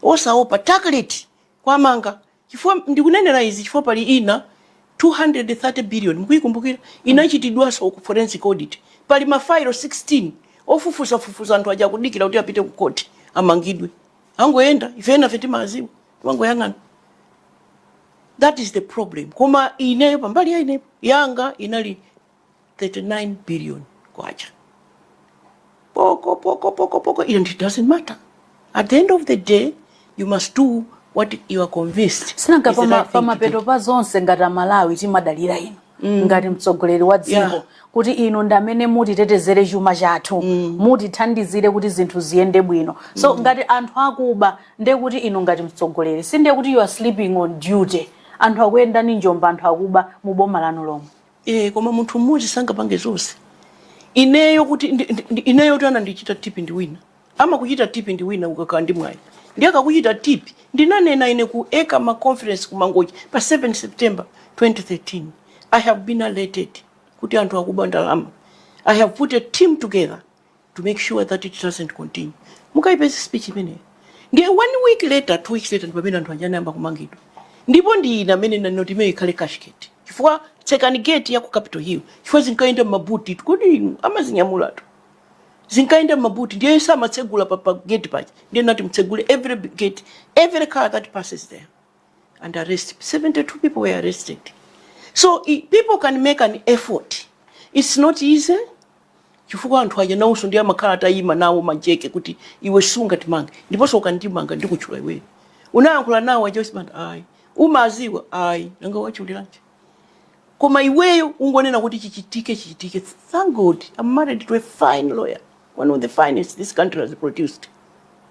osaopa target kuwamanga chifukwa ndikunenera izi chifukwa pali ina 230 billion mukuyikumbukira inachitidwanso ku forensic audit pali mafailo 16 ofufuzafufuza anthu aja akudikira kuti apite ku court amangidwe angoyenda ife enafe timaziwa timangoyang'ana that is the problem koma ineyo pambali ya inepo yanga inali 39 billion kwacha poko poko poko poko and it doesn't matter at the end of the day you must do what you are convinced sinanga pamapeto pa zonse ngati amalawi timadalira inu mm. ngati mtsogoleri wa dziko yeah. kuti inu ndi amene mutitetezere chuma chathu mm. mutithandizire kuti zinthu ziyende bwino so mm. ngati anthu akuba ndi kuti inu ngati mtsogoleri sindiye kuti you are sleeping on duty anthu akuyendani njomba anthu akuba mu boma lanu lomwe Eee koma munthu mmodzi sangapange zonse. Ineyo kuti ndi, ndi, ndi, ineyo kuti anandichita tipi ndi wina. Amakuchita tipi ndi wina ukakhala ndi mwayi. Ndiye akakuchita tipi ndinanena ine ku ECAMA conference ku Mangochi pa 7 September 2013. I have been alerted kuti anthu akuba ndalama. I have put a team together. to make sure that it doesn't continue mukayipeze speech imeneyo ndiye one week later two weeks later ndi pamene anthu aja anayamba kumangidwa ndipo ndi ine amene ndinati imeneyo ikhale cashgate chifukwa tsekani gate ya ku capital hill chifukwa zinkayenda mmabuti kodi amazinyamulatu zinkayenda mmabuti ndiye samatsegula pa, pa gate paja nde ndinati mutsegule every gate every car that passes there and arrest 72 people were arrested so i- people can make an effort it's not easy chifukwa anthu aja nawonso ndi amakhala atayimika nawo majeke kuti iwe sungatimange ndiponso ukandimanga ndikutchula iweyo unayankhula nawo aja uzimati ayi umaziwa ayi nanga watchuliranji koma iweyo ungonena kuti chichitike chichitike thank god i'm married to a fine lawyer one of the finest this country has produced